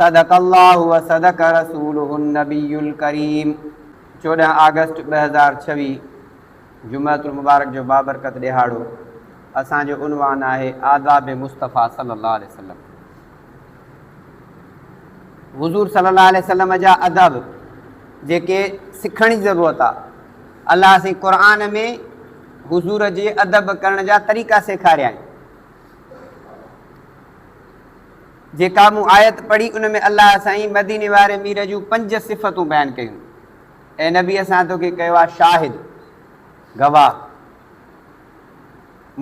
صدق الله وصدق رسوله النبي الڪريم چوڏهن آگسٽ ٻه هزار ڇويهه جمعة المبارڪ جو بابرڪت ڏهاڙو اسان جو عنوان آهي آداب مصطفيٰ صلي الله عليه وسلم حضور صلي الله عليه وسلم جا ادب جيڪي سکڻ جي ضرورت آ الله سين قرآن ۾ حضور جي ادب ڪرڻ جا طريقا سيکاريائين جيڪا مون آيت پڙهي ان ۾ الله سائين مديني واري مير جون پنج صفتون بيان ڪيون. اي نبي اسان توکي ڪيو آهي شاهد، گواهه،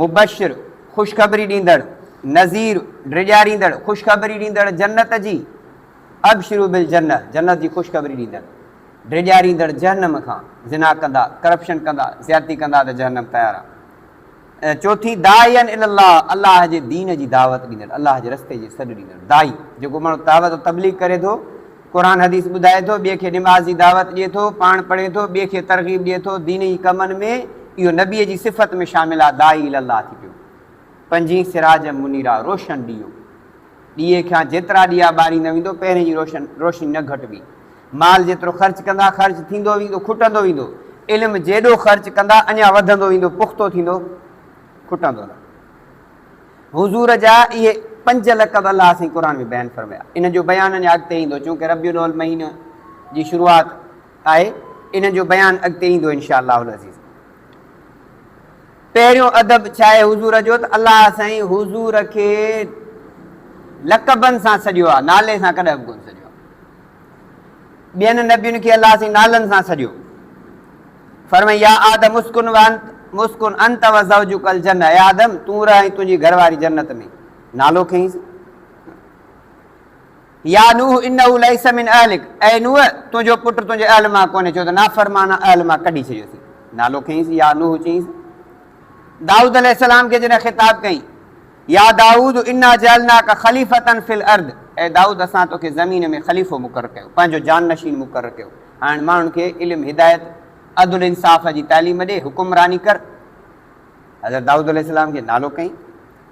مبشر، خوشخبري ڏيندڙ، نذير، ڊيڄاريندڙ، خوشخبري ڏيندڙ جنت جي، ابشروا بالجنة، جنت جي خوشخبري ڏيندڙ، ڊيڄاريندڙ جهنم کان، زنا ڪندا، ڪرپشن ڪندا، زيادتي ڪندا ته جهنم تيار آ. ۽ چوٿين داعيا الي الله، الله جي دين جي دعوت ڏيندڙ، الله جي رستي جي سڏ ڏيندڙ، داعي، جيڪو ماڻهو دعوت و تبليغ ڪري ٿو، قرآن حديث ٻڌائي ٿو، ٻئي کي نماز جي دعوت ڏئي ٿو، پاڻ پڙهي ٿو، ٻئي کي ترغيب ڏئي ٿو، دين جي ڪمن ۾، اهو نبيء جي صفت ۾ شامل آهي، داعي الي الله ٿي پيو. پنجين سراجا منيرا، روشن ڏيئو. ڏيئي کان جيترا ڏيئا ٻاري نه ويندو، پهرين جي روشن روشني نه گهٽبي. مال جيترو خرچ ڪندا، خرچ ٿيندو ويندو، کٽندو ويندو. علم جيڏو خرچ ڪندا، اڃا وڌندو ويندو، پختو ٿيندو، کٽندو نه. حضور جا اهي پنج لقب الله سائين قرآن ۾ بيان فرمايا. انهن جو بيان اڃا اڳتي ايندو، چونڪه ربيع الاول مهيني جي شروعات آهي، انهن جو بيان اڳتي ايندو انشاء الله العزيز. پهريون ادب ڇاهي حضور جو ته الله سائين حضور کي لقبن سان سڏيو آهي نالي سان ڪڏهن به ڪونه سڏيو ٻين نبين کي الله سائين نالن سان سڏيو فرمائي يا آدم مسڪن وانت مسڪن انت و زوجك الجنه اي آدم تون رهين تنهنجي گهر واري جنت ۾ نالو کينس يا نوح انه ليس من اهلک، اي نوح! تنهنجو پٽ تنهنجي اهل مان ڪونهي، ڇو ته نافرمان اهل مان ڪڍي ڇڏيوسين. نالو کنئيس يا نوح چيائينس. دائود عليه السلام کي جڏهن خطاب ڪيائين، يا دائود انا جعلناک خليفة في الارض، اي دائود اسان توکي زمين ۾ خليفو مقرر ڪيو، پنهنجو جانشين مقرر ڪيو، هاڻ ماڻهن کي علم، هدايت، عدل انصاف جي تعليم ڏي، حڪمراني ڪر. حضرت دائود عليه السلام کي نالو ڪيائين.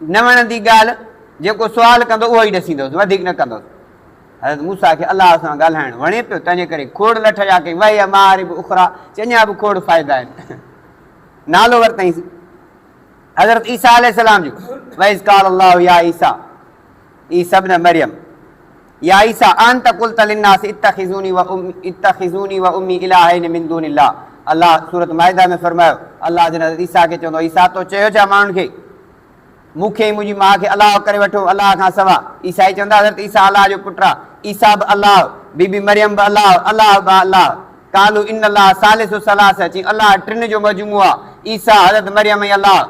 نه وڻندي ڳالهه، جيڪو سوال ڪندو اهو ئي ڏسيندوس، وڌيڪ نه ڪندوس. حضرت موسيٰ کي الله سان ڳالهائڻ وڻي پيو، تنهنجي ڪري کوڙ لٺ جا ڪئي، وهي مآرب اخريٰ، چي اڃا به کوڙ فائدا آهن. نالو ورتائينس حضرت عيسيٰ عليه السلام جو، وإذ قال الله يا عيسيٰ، عيسيٰ ابن مريم. يا عيسيٰ اانت قلت للناس اتخذوني اتخذوني وامي الٰهين من دون الله الله سورة مائده ۾ فرمايو الله جن حضرت عيسيٰ کي چوندو عيسيٰ تو چيو ڇا ماڻهن کي مون کي ۽ منهنجي ماء کي الله ڪري وٺو الله کان سوا عيسائي چوندا حضرت عيسيٰ الله جو پٽ آ عيسيٰ به الله بي بي مريم به الله الله با الله قالو ان الله ثالث ثلاثه چين الله ٽن جو مجموعو آ عيسيٰ حضرت مريم ۽ الله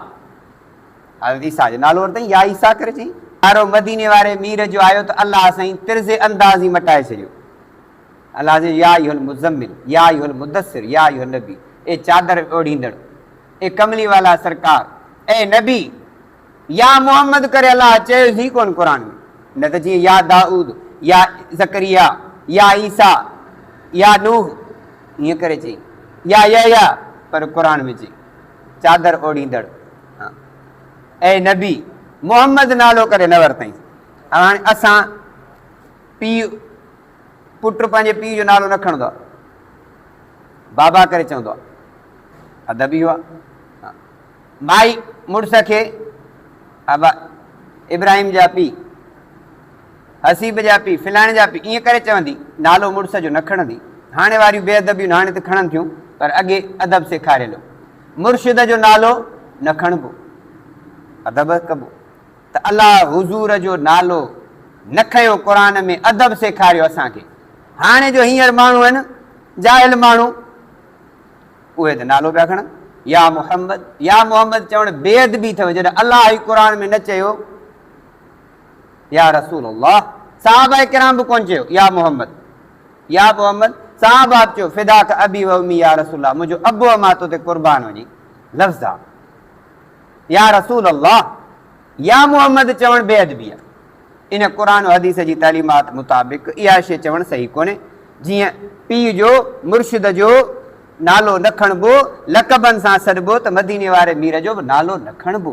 حضرت عيسيٰ جو نالو ورتائين، يا عيسيٰ ڪري چئي، پيارو مديني واري مير جو آيو ته الله سائين طرز انداز ئي مٽائي ڇڏيو. الله سائين يا ايها المزمل، يا ايها المدثر، يا ايها النبي، اي چادر اوڍيندڙ، اي ڪملي والا سرڪار، اي نبي، يا محمد ڪري الله چيس ئي ڪونه قرآن ۾، نه ته جيئن يا دائود، يا زڪريا، يا عيسيٰ، يا نوح، ائين ڪري چئي، يا يحيٰ، پر قرآن ۾ چئي، چادر اوڙهيندڙ اي نبي! محمد نالو ڪري نه ورتئين. هاڻي اسان پيء پٽ پنهنجي پيء جو نالو نه کڻندو آ. بابا ڪري چوندو آ. ادب اهو آ. مائي مڙس کي ابا ابراهيم جا پيء حسيب جا پيء، فلاڻي جا پيء ائين ڪري چوندي، نالو مڙس جو نه کڻندي. هاڻي واريون بي ادبيون هاڻي ته کڻن ٿيون، پر اڳي ادب سيکاريل هو. مرشد جو نالو نه کڻبو، ادب ڪبو. ته الا حضور جو نالو نه کنيو، قرآن ۾ ادب سيکاريو اسان کي. هاڻي جو هينئر ماڻهو آهن، جاهل ماڻهو، اهي ته نالو پيا کڻن، يا محمد، يا محمد چوڻ بي ادبي اٿئو، جڏهن الله ئي قرآن ۾ نه چيو. يا رسول الله! صحابه ڪرام به ڪونه چيو، يا محمد! يا محمد! صحابه به چيو، فداک ابي و امي يا رسول الله! منهنجو ابو ۽ مان تو تي قربان وڃي. لفظ آ. يا رسول الله! يا محمد! چوڻ بي ادبي آ. ان قرآن و حديث جي تعليمات مطابق اها شيء چوڻ صحيح ڪونهي. جيئن پيء جو، مرشد جو، نالو نه کڻبو، لقبن سان سڏبو ته مديني واري مير جو به نالو نه کڻبو.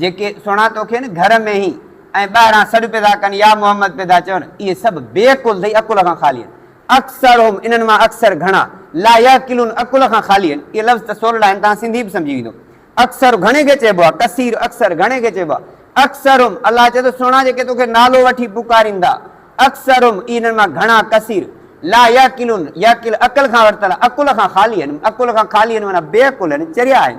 جيڪي سھڻا توکي نھ گھر ۾ ھين ۽ ٻاھران سڏ پيدا ڪن يا محمد پيدا چون، اھي سڀ بي عقل تھي عقل کان خالي ھين. اڪثرھم، انھن مان اڪثر، گھڻا، لا يعقلون عقل کان خالي ھين، اھي لفظ ته سولڙا ھين توھان سنڌي به سمجھي ويندو. اڪثر گھڻي کي چئبو آھي، ڪثير اڪثر گھڻي کي چئبو آھي. اڪثرھم، الله چئي ٿو سھڻا جيڪي توکي نالو وٺي پڪاريندا، اڪثرھم، اھي انھن مان گھڻا، ڪثير، لا يعقلون، يعقل عقل کان ورتل آھي، عقل کان خالي ھين، عقل کان خالي ھين معنيٰ بي عقل ھين، چريا ھين.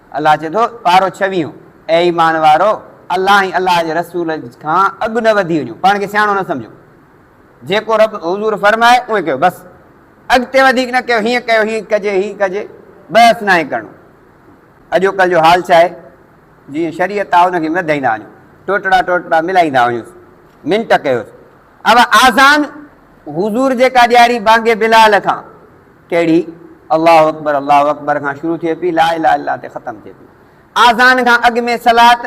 الله چئي ٿو، پارو ڇويهون، اي ايمان وارؤ! الله ۽ الله جي رسول کان اڳ نه وڌي وڃو، پاڻ کي سياڻو نه سمجهو. جيڪو رب، حضور، فرمائي، اونهي ڪيو، بس. اڳتي وڌيڪ نه ڪيو، هيئن ڪيو، هيئن ڪجي، هيئن ڪجي، بحث ناهي ڪرڻو. اڄوڪلهه جو حال ڇاهي؟ جيئن شريعت آ، ان کي مدهيندا وڃون، ٽوٽڙا ٽوٽڙا ملائيندا وڃونس، منٽ ڪيوس. اھا آذان حضور جيڪا ڏياري بانگ بلال کان، ڪھڙي؟ الله اڪبر الله اڪبر کان شروع ٿئي پئي، لا اله الا الله تي ختم ٿئي پئي. آذان کان اڳ ۾ صلات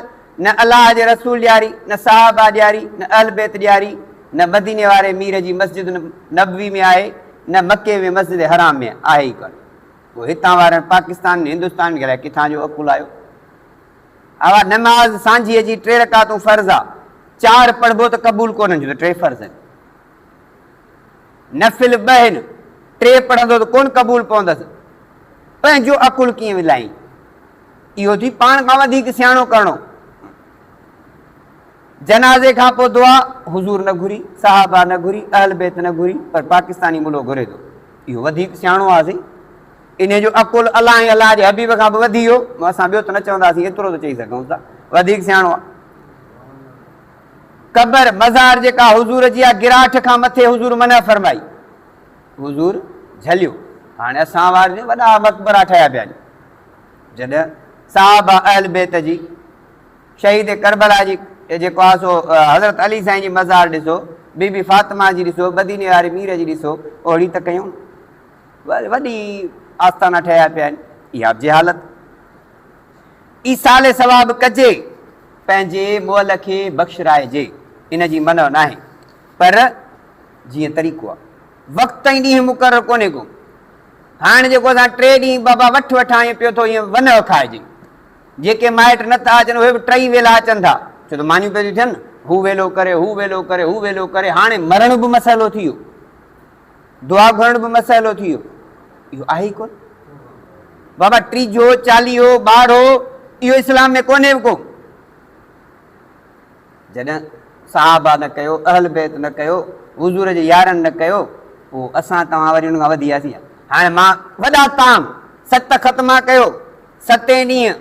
نه الله جي رسول ڏياري، نه صحابه ڏياري، نه اھل بيت ڏياري، نه مديني واري مير جي مسجد نبوي ۾ آھي، نه مڪي ۾ مسجد حرام ۾ آھي ئي ڪانھي. پوء ھتان وارن پاڪستان ۽ ھندستان کي الائي ڪٿان جو عقل آيو؟ اها نماز سانجهيء جي ٽي رڪعتون فرض آ، چار پڙهبو ته قبول ڪونه ٿيندو، ٽي فرض آهن. نفل ٻه آهن، ٽي پڙهندو ته ڪونه قبول پوندس. پنهنجو عقل ڪيئن ولائين؟ اهو ٿي پاڻ کان وڌيڪ سياڻو ڪرڻو. جنازي کانپوء دعا حضور نه گهري، صحابه نه گهري، اهل بيت نه گهري، پر پاڪستاني ملو گهري ٿو. اهو وڌيڪ سياڻو آ سائين. انهيء جو عقل الله ۽ الله جي حبيب کان به وڌي هو. اسان ٻيو ته نه چونداسين، ايترو ته چئي سگهون ٿا، وڌيڪ سياڻو آهي. قبر، مزار، جيڪا حضور جي آهي، گراٺ کان مٿي حضور منع فرمائي. حضور جهليو. هاڻي اسان وار جو وڏا مقبرا ٺهيا پيا آهن. جڏهن صحابه، اهل بيت جي، شهيد ڪربلا جي جيڪو آهي سو حضرت علي سائين جي مزار ڏسو، بي بي فاطمه جي ڏسو، مديني واري مير جي ڏسو، اوهڙي ته ڪيون. وڏي آستانا ٺهيا پيا آهن، اها به جهالت. ايصال ثواب ڪجي، پنهنجي مئل کي بخشرائجي، ان جي منع ناهي، پر جيئن طريقو آهي. وقت ۽ ڏينهن مقرر ڪونهي ڪو. هاڻ جيڪو اسان ٽي ڏينهن بابا وٺ وٺان ائين پيو ٿو ائين ونء کائجي. جيڪي مائٽ نه ٿا اچن اهي به ٽئي ويلا اچن ٿا، ڇو ته مانيون پيون ٿيون ٿين نه. هو ويلو ڪري، هو ويلو ڪري، هو ويلو ڪري، هاڻي مرڻ به مسئلو ٿي ويو. دعا گهرڻ به مسئلو ٿي ويو اهو آهي ڪون بابا ٽيجو چاليهو ٻاڙو اهو اسلام ۾ ڪونهي به ڪو جڏهن صحابا نه ڪيو اهل بيت نه ڪيو حضور جي يارن نه ڪيو پوء اسان توهان وري ان کان وڌي وياسين هاڻي مان وڏا تام ست ختما ڪيو ستين ڏينهن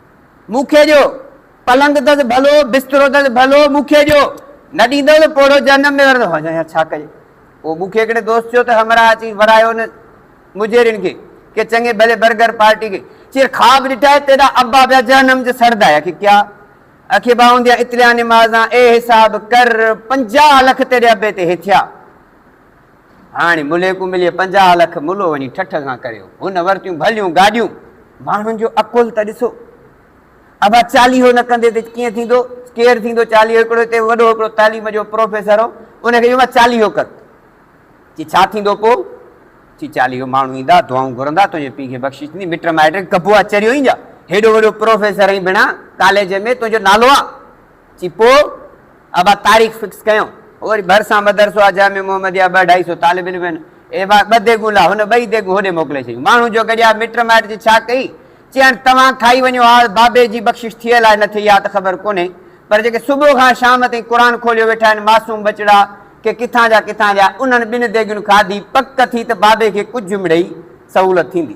مون کي ڏيو پلنگ دز ڀلو، بسترو دز ڀلو، مون کي ڏيو، نه ڏيندؤ ته پوڙهو جهنم ۾ ورندو هجان يا ڇا ڪجي؟ پوء مون کي هڪڙي دوست چيو ته همراهه اچي ورايو ان مجيرين کي ڪي چڱي ڀلي برگر پارٽي کي چير خواب ڏٺائي تيڏا ابا پيا جهنم جو سڙدا يا ڪي ڪيا اکي باهونديان اتليان نمازان اي حساب ڪر پنجاهه لک تيڏي ابي تي هي ٿيا. هاڻي ملي ڪو ملي پنجاهه لک ملو وڃي ٺٺ سان ڪريو. هن ورتيون ڀليون گاڏيون. ماڻهن جو عقل ته ڏسو. ابا چاليهو نه ڪندي ته ڪيئن ٿيندو؟ ڪير ٿيندو چاليهو؟ هڪڙو هتي وڏو هڪڙو تعليم جو پروفيسر هو. ان کي چيو مان چاليهو ڪر. چي ڇا ٿيندو پوء؟ چي چاليهو ماڻهو ايندا، دعائون گهرندا، تنهنجي پيء کي بخشش ٿيندي، مٽ مائٽ کي ڪبو آ، چريو ايندا. هيڏو وڏو پروفيسر ۽ بنا ڪاليج ۾ تنهنجو نالو آ. چي پوء ابا تاريخ فڪس ڪيائون. پوء وري ڀرسان مدرسو آ جامع محمديه ٻه اڍائي سو طالب علم آهن. اي ڀاء ٻه ديڳون لا، هن ٻئي ديڳون هوڏي موڪلي ڇڏيون. ماڻهو جو گڏيا مٽ مائٽ جي ڇا ڪئي؟ چي هاڻي توهان کائي وڃو ها، بابي جي بخشش ٿيل آهي نه ٿئي اها ته خبر ڪونهي، پر جيڪي صبح کان شام تائين قرآن کوليو ويٺا آهن معصوم ٻچڙا ڪي ڪٿان جا ڪٿان جا، انهن ٻن ديڳين کاڌي پڪ ٿي ته بابي کي ڪجهه مڙئي سهولت ٿيندي.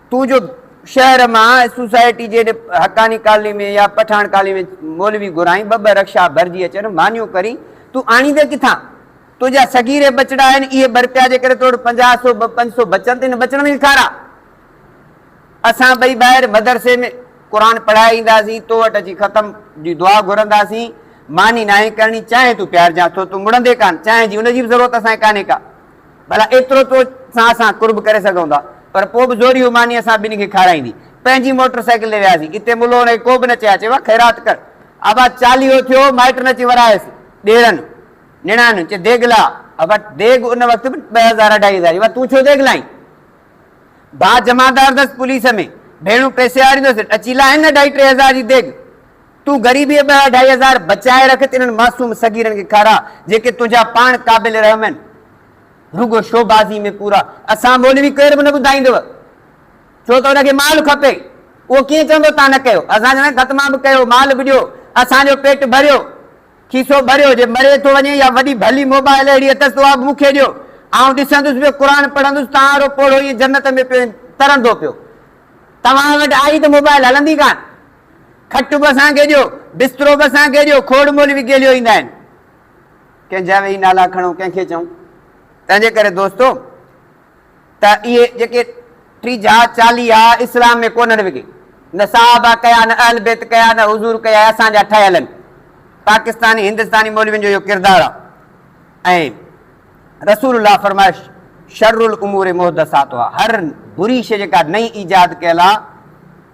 تون جو شهر مان سوسائٽي جي حقاني ڪالني ۾ يا پٺاڻ ڪالني ۾ مولوي گهرائين، ٻه ٻه رڪشا ڀرجي اچن، مانيون ڪرين، تون آڻيندين ڪٿان؟ تنهنجا سگيري ٻچڙا آهن، اهي ٻه رپيا جي ڪري تو وٽ پنجاهه سو ٻه پنج سو بچن ته ان ٻچڙن کي کاراء. اسان ٻئي ٻاهر مدرسي ۾ قرآن پڙهائي اينداسين، تو وٽ اچي ختم جي دعا گهرنداسين، ماني ناهي ڪرڻي، چانهه تون پيارجانء ٿو، تون مڙندين ڪانه، چانهه جي ان جي به ضرورت اسان کي ڪانهي ڪا. ڀلا ايترو تو سان سان قرب ڪري سگهون ٿا، پر پوء به زوريون ماني اسان ٻنهي کي کارائيندي. پنهنجي موٽر سائيڪل تي وياسين. اتي ملوڻ کي ڪو به نه چيائين. چيو، خيرات ڪر. ابا چاليهو ٿيو، مائٽن اچي ورهايس. ڏيرن، نڻانئن چي ديڳ لا. ابا ديڳ ان وقت به ٻه هزار اڍائي هزار جي. ابا تون ڇو ديڳ لائين؟ ڀاء جمعدار اٿس پوليس ۾، ڀيڻون پئسي آريندو اٿس، اچي لا هن اڍائي ٽي هزار جي ديڳ. تون غريبيء ٻه اڍائي هزار بچائي رک ته انهن معصوم صغيرن کي کاراء، جيڪي تنهنجا پاڻ قابل رحم آهن. رڳو شوبازيء ۾ پورا اسان مولوي ڪير به نه ٻڌائيندؤ، ڇو ته ان کي مال کپي. اهو ڪيئن چوندو تان نه ڪيو، اسان جهڙن ختمان به ڪيو، مال به ڏيو، اسان جو پيٽ ڀريو، کيسو ڀريو، جي مري ٿو وڃي يا وڏي ڀلي موبائل اهڙي اٿس ته اها به مون کي ڏيو، آئون ڏسندس پيو، قرآن پڙهندس، تان وارو پوڙهو ائين جنت ۾ پيو ترندو پيو، توهان وٽ آئي ته موبائل هلندي ڪانه. کٽ به اسان کي ڏيو، بسترو به اسان کي ڏيو، کوڙ مولوي گيليو ايندا آهن، ڪنهن جا ويهي نالا کڻون، ڪنهن کي چئون؟ تنهن جي ڪري دوستو ته اهي جيڪي ٽيجها، چاليها اسلام ۾ ڪونهن وگهي، نه صحابه ڪيا، نه اهل بيت ڪيا، نه حضور ڪيا، اهي اسان جا ٺهيل آهن، پاڪستاني هندستاني مولوين جو اهو ڪردار آهي ۽ رسول الله فرمايو، شر الامور محدثاتها هر بري شيء جيڪا نئين ايجاد ڪيل آ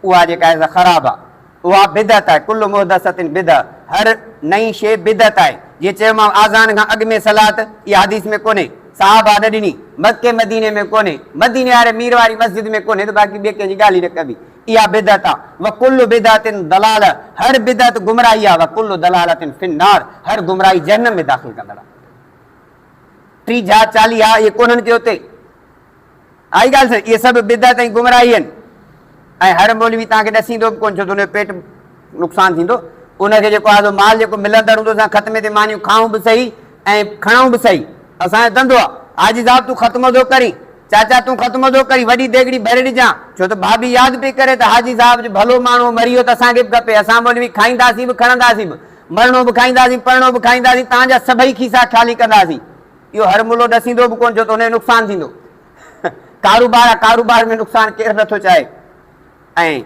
اها جيڪا آهي سا خراب آ اها بدعت آهي ڪل محدثة بدعة هر نئين شيء بدعت آهي جيئن چيومانو آذان کان اڳ ۾ صلات اها حديث ۾ ڪونهي صحابه نه ڏني مڪي مديني ۾ ڪونهي مديني واري مير واري مسجد ۾ ڪونهي ته باقي ٻئي ڪنهن جي ڳالهه ئي نه ڪبي اها بدعت آ وڪل بدعة ضلالة هر بدعت گمراهي آ وڪل ضلالة في النار هر گمراهي جهنم ۾ داخل ڪندڙ آ. ٽي جھا چاليھا اھي ڪونھن ڪي اتي آھي ڳالھ سھي اھي سڀ بدعت ۽ گمراھي ھن ۽ ھر مولوي توھان کي ڏسيندو به ڪون ڇو ته ان جو پيٽ نقصان ٿيندو ان کي جيڪو آھي مال جيڪو ملندڙ ھوندو اسان ختمي تي مانيون کائون به سھي ۽ کڻئون به سھي اسان جو دھندو آ حاجي صاحب تون ختمو ٿو ڪرين چاچا تون ختمو ٿو ڪرين وڏي ديڳڙي ڀري ڏجان ڇو ته ڀاڀي ياد پئي ڪري ته حاجي صاحب جو ڀلو ماڻھو مري ويو ته اسان کي به کپي اسان مولوي کائينداسين به کڻنداسين به مرڻو به کائينداسين، پرڻو به کائينداسين، تان جا سڀئي کيسا خالي ڪنداسين. اهو هر ملو ڏسيندو به ڪونه ڇو ته ان جو نقصان ٿيندو. ڪاروبار آ، ڪاروبار ۾ نقصان ڪير نه ٿو چاهي. ۽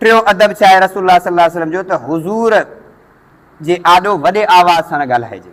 ٽيون ادب ڇا آهي رسول الله صلي الله عليه وسلم جو ته حضور جي آڏو وڏي آواز سان نه ڳالهائجي.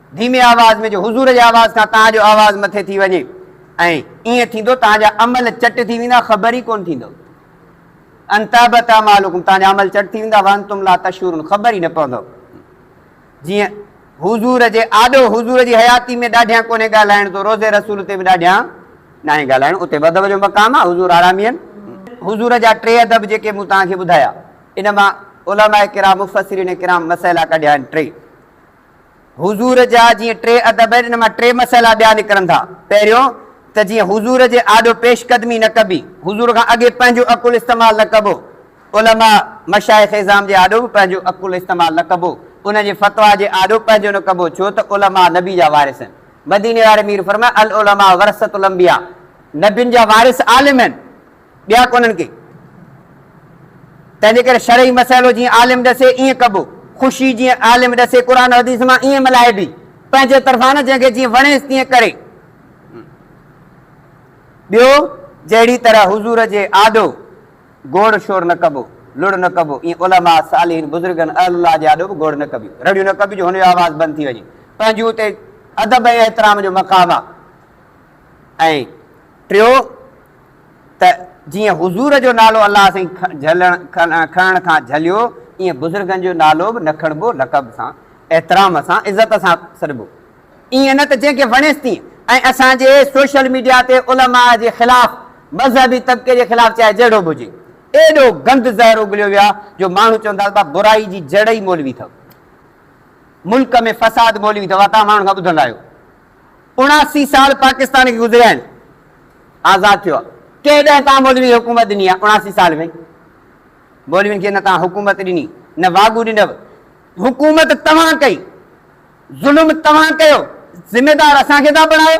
ڌيمي آواز ۾ جو حضور جي آواز کان توهان جو آواز مٿي ٿي وڃي ۽ ائين ٿيندو توهان جا عمل چٽ ٿي ويندا خبر ئي ڪونه ٿيندو ان تحبط اعمالکم توهان جا عمل چٽ ٿي ويندا وانتم لا تشعرون خبر ئي نه پوندو جيئن حضور جي آڏو حضور جي حياتي ۾ ڏاڍيان ڪونهي ڳالهائڻ تو روزي رسول تي به ڏاڍيان ناهي ڳالهائڻ اتي ادب جو مقام آهي حضور آرامي آهن حضور جا ٽي ادب جيڪي مون توهان کي ٻڌايا ان مان علماء ڪرام مفسرين ڪرام مسئلا ڪڍيا آهن ٽي حضور جا جيئن ٽي ادب آهن، ان مان ٽي مسئلا ٻيا نڪرن ٿا. پهريون ته جيئن حضور جي آڏو پيش قدمي نه ڪبي، حضور کان اڳي پنهنجو عقل استعمال نه ڪبو، علماء مشائخ عظام جي آڏو به پنهنجو عقل استعمال نه ڪبو، انهن جي فتويٰ جي آڏو پنهنجو نه ڪبو، ڇو ته علماء نبي جا وارث آهن. مديني واري مير فرمايو، العلماء ورثة الانبياء، نبين جا وارث عالم آهن. ٻيا ڪونهن ڪي. تنهن جي ڪري شرعي مسئلو جيئن عالم ڏسي ائين ڪبو، خوشي جيئن عالم ڏسي قرآن و حديث مان ائين ملهائبي، پنهنجي طرفان نه جنهن کي جيئن وڻيس تيئن ڪري. ٻيو جهڙي طرح حضور جي آڏو گوڙ شور نه ڪبو، لڙ نه ڪبو، ائين علماء، صالحين، بزرگن، اهل الله جي آڏو به گوڙ نه ڪبيون، رڙيون نه ڪبيون جو هن جو آواز بند ٿي وڃي، پنهنجون اتي ادب ۽ احترام جو مقام آ. ۽ ٽيو ته جيئن حضور جو نالو الله سائين جهلڻ کڻڻ کان جهليو ايئن بزرگن جو نالو به نه کڻبو لقب سان احترام سان عزت سان سڏبو ايئن نه ته جنهن کي وڻيس تيئن ۽ اسان جي سوشل ميڊيا تي علماء جي خلاف مذهبي طبقي جي خلاف چاهي جهڙو به هجي ايڏو گند زهر اگليو ويو آهي جو ماڻهو چون ٿا ته برائي جي جڙ ئي مولوي اٿو ملڪ ۾ فساد مولوي اٿو اها توهان ماڻهن کان ٻڌندا آهيو. اڻاسي سال پاڪستان کي گذريا آهن، آزاد ٿيو آهي، ڪنهن ڏهه توهان مولوين کي حڪومت ڏني آهي اڻاسي سال ۾؟ مولوين کي نه توهان حڪومت ڏني، نه واڳو ڏنو، حڪومت توهان ڪئي، ظلم توهان ڪيو، ذميدار اسان کي ٿا بڻايو.